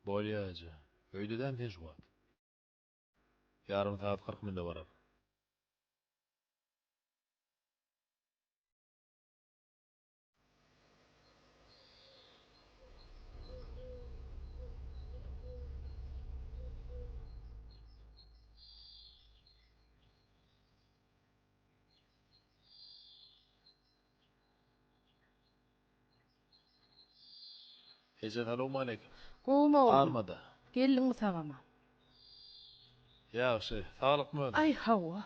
Bolýa eje. Öýdedämi sen şu wagt? Ýarym sagat kyrk minute barar. Eje salowmaleýkim. Gowumy oglan? Armada. Geldiňmi sagama? Ýagşy. Saglykmy özüň? Aý hawa.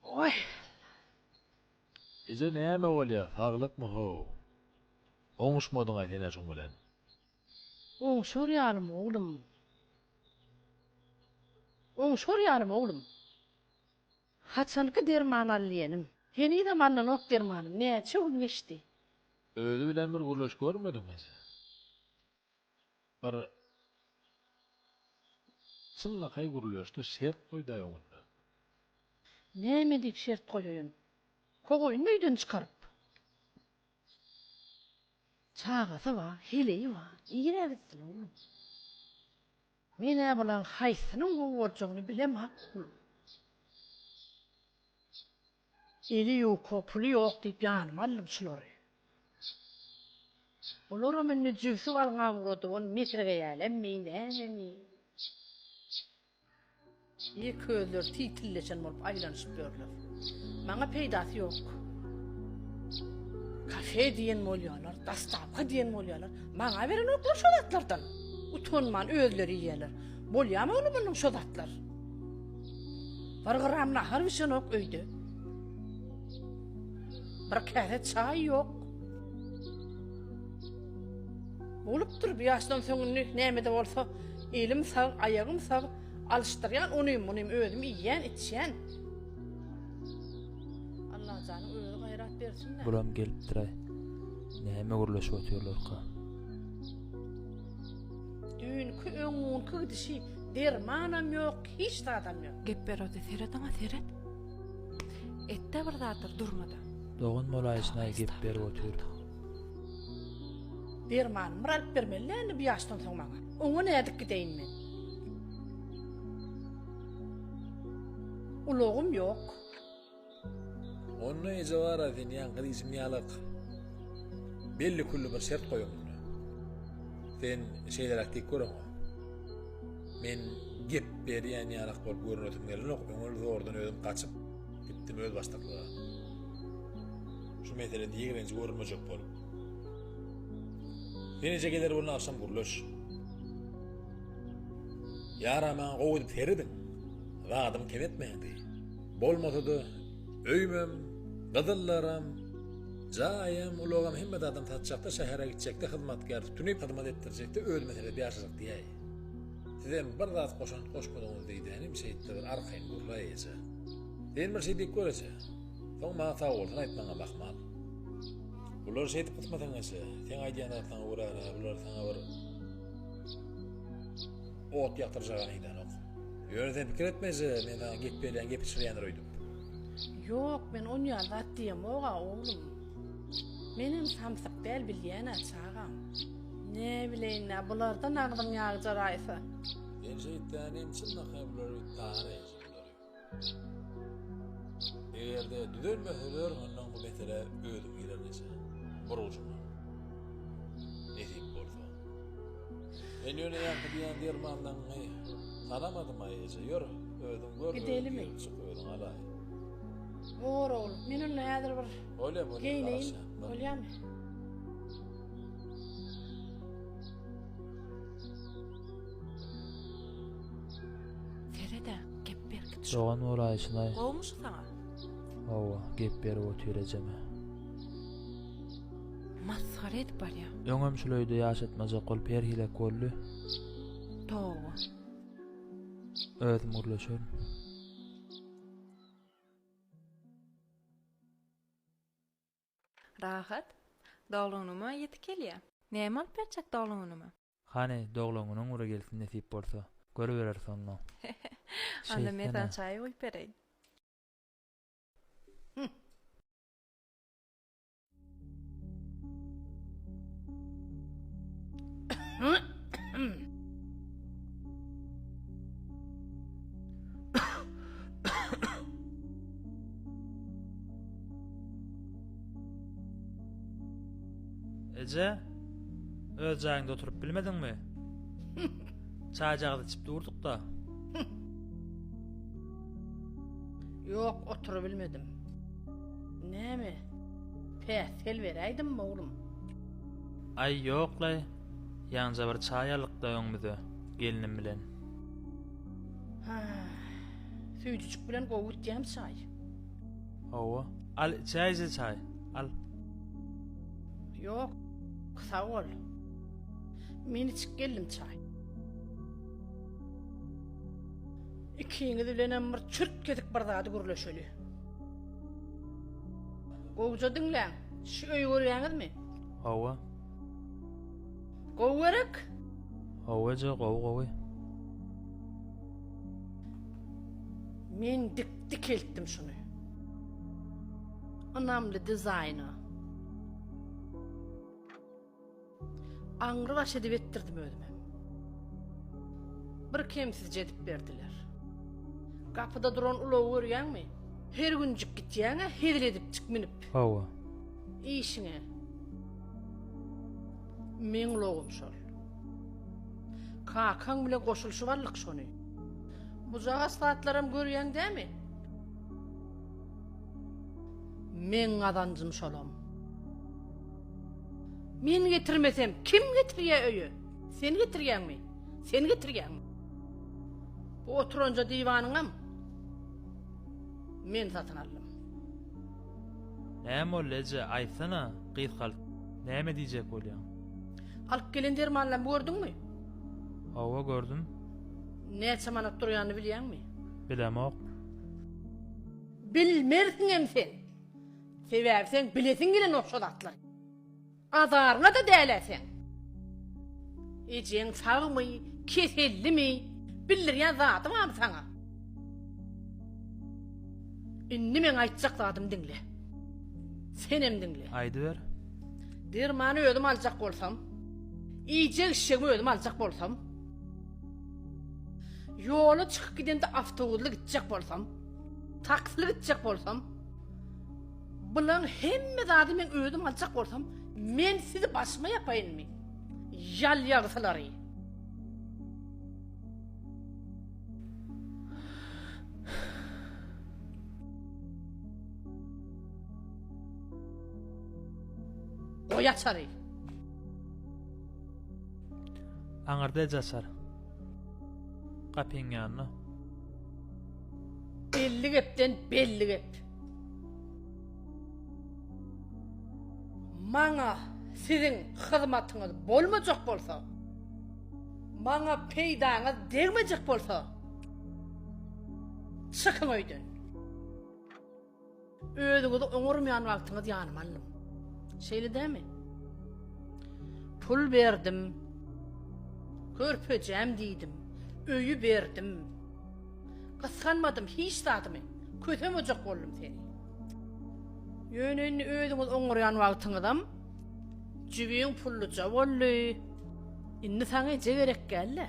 Oý. Eje näme bolýa saglykmy how. Oňuşmadyňaý sen-ä şuň bilen. Oňşar ýalym oglum, oňşar ýalym oglum, Haçanky derman al diýenim, Henizem alnanok dermanym, Näçe gün geçdi. Özi bilen bir gürleşip görmediňmi? Bir çynlakaý gürleşdi, şert goýdaý öňünde. Näme diýip şert goýaýyn? Kogaýyn öýden çykaryp. Çagasy bar, heleýi bar. Nirä gitsin oglum? Men-ä bularyň haýsynyň gowy boljagyny bilem oglum. Eli ýuka, puly ýok diýip ýanyma aldym şulary. Bularam indi jübsi balga ugrady, ony mesregeýälemmi, nämemi? Ýeke özleri tiýtilleşen bolup aýlanyşyp ýörler. Maňa peýdasy ýok. Kafe diýen bolýarlar, dastawka diýen bolýarlar. Maňa berenoklar şo zatlardan. Utanman özleri iýýärler. Bolýamy ony munyň şo zatlar? Bir gram nahar bişenok öýde. Bir käse çaý ýok. Bolupdyr bu ýaşdan soň indi näme-de bolsa elim sag, aýagym sag, alyşdyrýan onym, munym özüm iýýän, içýän. Allajanyň özi gaýrat bersin-dä. Bulam gelipdir-aý. Näme gürleşip otyrlarka? Düýnki, öňňunky gidişi, dermanam ýok, hiç zadam ýok. Gep berodi, seret oňa, seret. Et-de bir zatlar, durma-da. Dogan bolaýsyn-aý gep berip otyr. Dermanymy bir alyp bermeli dälmi bu ýaşdan soň maňa? Oňa nädip gideýin men? Ulagym ýok. Onda eje bar-a sen ýaňky gyz içim ýalyk. Belli-külli bir şert goýuň onda. Sen şeýleräk diýip gör oňa. Men gep berýän ýalak bolup görünesim gelenok, öňel zordan özüm gaçyp gitdim özbaşdaklyga. Şu meselede ýigrenji görülmejek bol. Ýeneje geler bolna agşam gürleş. Ýara maňa gowy edip serediň. Zadym kem etmändi. Bolmasa-da öýmem, gyzyllaram, jaýam, ulagam hemme zadym satjakda şähere gitjekde hyzmatkär tutunyp hyzmat etdirjekde özüme serep ýaşajak diýäý. Sizem bir zat goşant goşmadyňyz diýdänim şeýtde bir arkaýyn gürläýje. Sen bir şey diýip göreje. Soň maňa sagbolsun aýtmagyňam ahmal. Bular şeýdip gysmatyň içi. Seň aýdýan zatlaryňa görä-hä bular saňa bir ot ýakdyrjagany yzanok. Ýörese pikir etmeje, men saňa gep berýän gepi çyrýandyr öýdüp. Ýok, men on ýaly zat diýemog-a, oglum. Menem samsyk däl bilýän-ä, çagam. Näbileýin-dä, bulardan agzyň ýagjar aýsa. Sen şeýtseň hem çynlakaý bular öýdüp taýýar eýýämsen bulary. Eger-de düzelmese ber mundan bu meselä özüm girer neçe bir ujuna. Nesip bolsa. Men ýöne ýaňky diýen dermanlaňňy tanamadym-aý eje, ýör, özüň gör, özüň girip çyk, özüň alaý. Bor ogul, men onda häzir bir geýneýin, bolýamy? Feride, gep berkit şo. Dogan bolaýyşyna-aý. Gowumy şu saňa? Hawa, gep berip otur ejeme. Masgara edip barýa. Öňem şul öýde ýaşatmajak bolup her hilek boldy. Toba. Özüm gürleşerin. Rahat. Doglunyma ýetip gelýä. Näme alyp berjek doglunyma? Hany, doglunyň ury gelsin nesip bolsa. Görübereris onda. Onda men saňa çaý guýup bereýin. Eje, öz jaýyňda oturyp bilmediňmi? Çaýjagaz içip durduk-da. Ýok, oturyp bilmedim. Näme? Päsgel beräýdimmi, oglum? Aý, ýok-laý. Ýaňja bir çaý aldyk-da öňümize, gelnim bilen. Süýjüjik bilen gowy gitýämi çaý? Hawa. Al içäýje çaý. Al. Ýok. Sag bol. Men içip geldim çaý. Ikiňiz bilenem bir çürt kesik bir zady gürleşeli. Gowja diňläň. Şu öýi görýäňizmi? Hawa. Gowy gerek? Hawa eje, gowy gowy. Men dik Dikeltdim şuny. Ynamly dizaýna. Aňry baş edip etdirdim özüm hem. Bir kemsizje edip berdiler. Gapyda duran ulagy görýäňmi? Her günjik gitýäň-ä hezil edipjik münüp. Hawa. Işiňe. Meň ulagym şol. Kakaň bilen goşulyşyp aldyk şony. Bujagaz zatlaram görýäň dämi? Meň gazanjym şolam. Men getirmesem kim getirýä öýe? Sen getirýäňmi? Sen getirýäňmi? Bu oturanja diwanyňam men satyn aldym. Näme boldy eje, aýtsana, gyzkalt. Näme diýjek bolýaň? Alyp gelen dermanlarymy gördüňmi? Hawa gördüm. Näçe manat durýanyny bilýäňmi? Bilemok. Bilmersiňem sen. Sebäbi seň bilesiň gelenok şo zatlary. Azaryňa-da däl-ä seň. Ejeň sagmy, kesellimi? Bildirýän zady barmy saňa? Indi meň aýtjak zadymy diňle. Senem diňle. Aýdyber. Dermany özüm aljak bolsam, iýjek-içjegimi özüm aljak bolsam, Ýola çykyp gidende awtobusly gitjek bolsam, taksili gitjek bolsam, bulaň hemme zady men özüm aljak bolsam, men sizi başyma ýapaýynmy? Ýal ýagysylary. Goý açary. Aňyrda eje açar. Gapyň ýanynda. Elli gepden belli gep. Maňa siziň hyzmatyňyz bolmajak bolsa, maňa peýdaňyz degmejek bolsa, çykyň öýden. Özüňizi oňarmaýan wagtyňyz ýanyma aldym. Şeýle dämi? Pul berdim. Körpejäm diýdim. Öýi berdim. Gysganmadym hiç zadymy. Kösemejek boldum seni. Ýöne indi özüňizi oňarýan wagtyňyzam jübiň pulluja boldy. Indi saňa eje gerek gäl-le.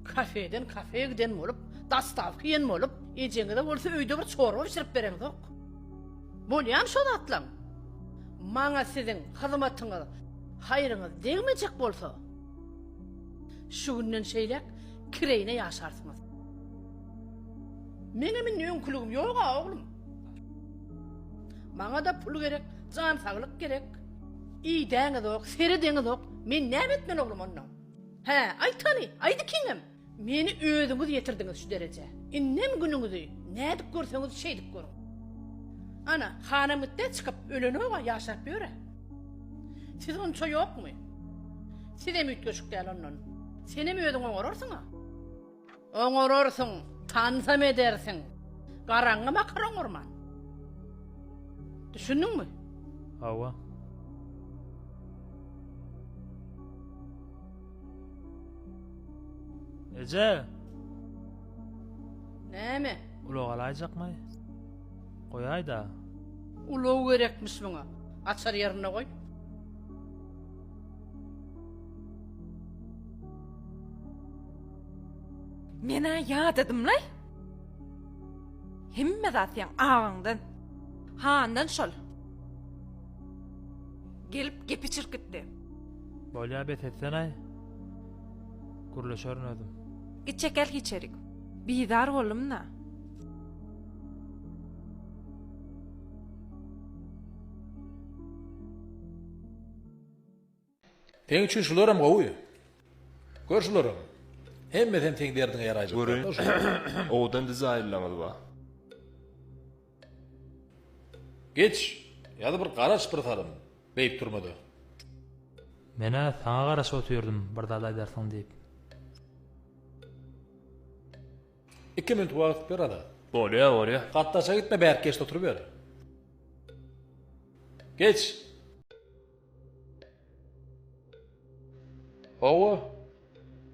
Kafeden kafeýe giden bolup, dastawka iýen bolup, ejeňize bolsa öýde bir çorba bişirip bereňzok. Bolýamy şo zatlaň? Maňa siziň hyzmatyňyz, haýryňyz degmejek bolsa, şu günden şeýläk kireýine ýaşarsyňyz. Meňem indi öňküligim ýog-a, oglum. Maňa-da pul gerek, jan saglyk gerek. Iýdäňizok, seredeňizok, men näme etmeli oglum onda? Hä, aýt hany, aýt ikiňem! Meni özüňiz ýetirdiňiz şu derejä. Indem günüňizi nädip görseňiz, şeýdip görüň. Ana, hanam gitdi, çykyp, ölenok-a, ýaşap ýör-ä. Siz onça ýokmy? Sizem üýtgeşik däl ondan. Senem özüň oňararsyň-a. Oňararsyň, tanzam edersiň. Garaňňy bakar oňarman. Düşündiňmi? Hawa. Eje! Näme? Ulag alaýjakmy? Goýaý-da. Ulag gerekmiş muňa. Açar ýerinde goý. Men-ä ýadadym-laý. Hemme zat seň agaňdan, handan şol. Gelip gepi çirkitdi. Bolýa bes etsen-aý. Gürleşerin özüm. Git çekil içerik. Bizar boldum-da. Seň üçin şularem gowy. Gör şularem. Hemmesem seň derdiňe ýaraýjak. Görün. Owadan dizaýnlaňyz bar. Geç. Ýa-da bir garaş bir salym. Beýik turmada. Men-ä saňa garaşyp otyrdym bir zat aýdarsyň diýip. Iki minut wagt ber Azat. Bolýar, bolýar. Gatdaşa gitme bärki geçde oturyber. Geç. Hawa,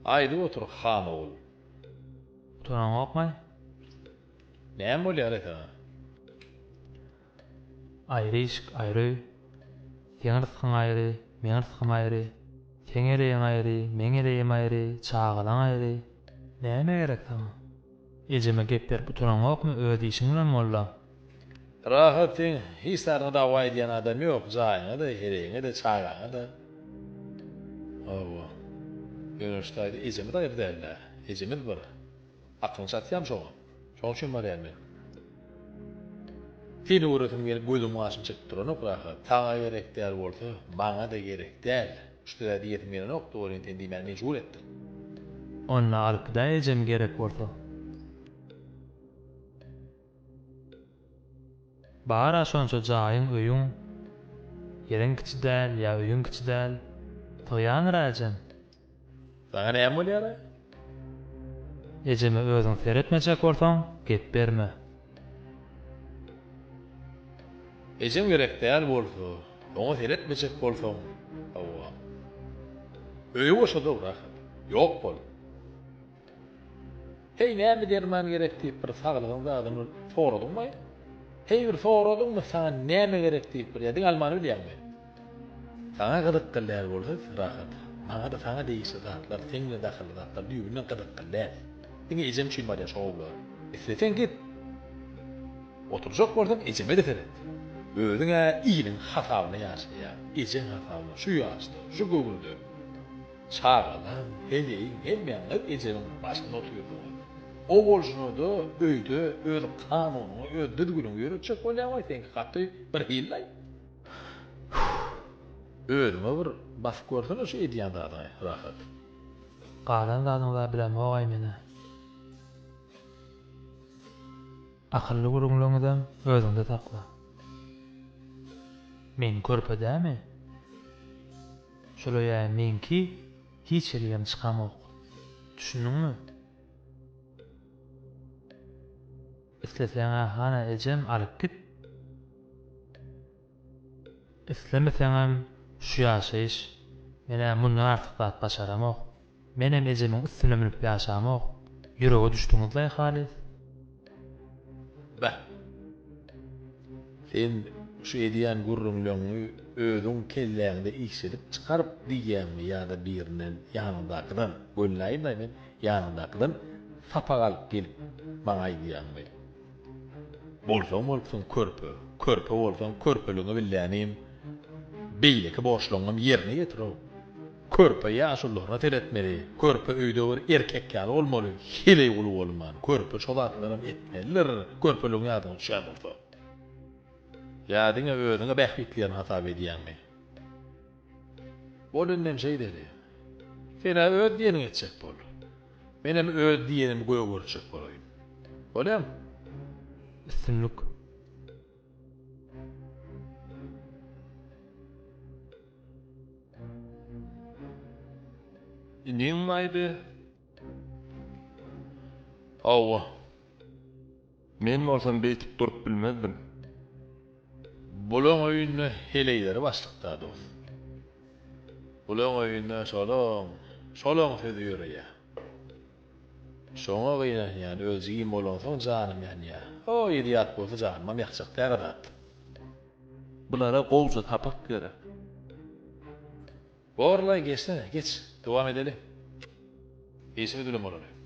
aýdyp otur han ogul. Utanaňokmy? Näme bolýar e saňa? Aýry işik, aýry öý. Seň ryskyň aýry, meň rysgym aýry. Seň eleýiň aýry, meň eleýim aýry, çagalaň aýry. Näme gerek saňa? Ejeme gep berip utanaňokmy, öz işiň bilen molla. Rahat seň hiç zadyňa dawa edýän adam ýok jaýyňada heregiňede çagaňada hawa Göwünç daýza ejemiz aýry dälda ejemiz bir aklyňy çatýam şoňa şoň üçin barýan men seni göresim gelip gözüm gaşym çekip duranok Rahat saňa gerek däl bolsa maňada gerek däl şda diýesim gelenok dogryny sen diýmäni mejbur etdiň. Onda alypda ejem gerek bolsa. Bar-a şonça jaýyň, öýüň. Ýeriň kiçi däl, ýa öýüň kiçi däl. Sygýandyr-a ejeň. Saňa näme bolýar-a? Ejeme özüň seretmejek bolsaň, gep berme. Ejeň gerek däl bolsa, oňa seretmejek bolsaň, hawa. Öýi boşa-da rahat. Ýok bol. Heý, näme derman gerek diýip bir saglygyň zadyny soradyňmy? Heý, bir soradyňmy, saňa näme gerek diýip bir, ýa diňe almany bilýäňmi? Saňa gyzykly däl bolsa, rahat. Maňa-da saňa degişli zatlar, seň bilen dahylly zatlar düýbünden gyzykly däl. Diňe ejem üçin barýa şo gowular. Isleseň git. Oturjak bolsaň ejeme-de seret. Özüň-ä iliň hasabyna ýaşaýaň. Ejeň hasabyna, şu ýaşda, şu göwünde. Çagalar, heleýiň hemmäňiz ejemiň başynda otyrdyňyz. O bolşuna-da öýde öz kanunyňy, öz düzgüniňi ýöretjek bolýaň we seňki gaty birhili-laý. Özüňe bir basyp görsene şu edýän zadyňy, Rahat. Galan zadyňy-da bilemok-aý men-ä. Akylly gürrüňleriňizem özüňde sakla. Meň körpe dämi? Şolaýa meňki hiç ýerigem çykamok. Düşündiňmi? Isleseňä hana ejem alyp git. Islemeseňem şu ýaşaýyş, men-ä mundan artyk zat başaramok. Menem ejemiň üstüne münüp ýaşamok. Ýürege düşdüňiz-laý halys. Beh. Sen şu edýän gürrüňleňňi özüň kelläňde işledip çykaryp diýýäňmi ýa-da birinden, ýanyňdakydan, welin aýtmaýyn men, ýanyňdakydan sapak alyp gelip maňa aýdýaňmy? Bolsaň bolupsyň körpe, körpe bolsaň körpeligiňi billänim, beýleki borçlaryňam ýerine ýetir-ow. Körpe ýaşulylaryna seretmeli, körpe öýde bir erkek ýaly bolmaly, heleý uly bolman, körpe şo zatlaram etmelidir, körpeligiň ýadyňa düşýän bolsa. Ýa diňe özüňi bähbitlerini hasap edýäňmi? Bol indem şeýdeli. Sen-ä öz diýeniňi etjek bol. Menem öz diýenimi göýä görjek bolaýyn. Bolýamy? Üstünlik! Iniň baýdy. Hawa. Men bolsam beýtip durup bilmezdim. Bulaň öýünde heleýleri başlykda dost. Bulaň öýünde şolaň, şolaň sözi ýöreýä. Şoňa gynanýan özi giň bolansoň janym ýanýa. O ýeri ýat bolsa janymam ýakjak däl a zat. Bulara gowja sapak gerek. Borlaý geçsene geç dowam edeli işiňi dülüm bolany.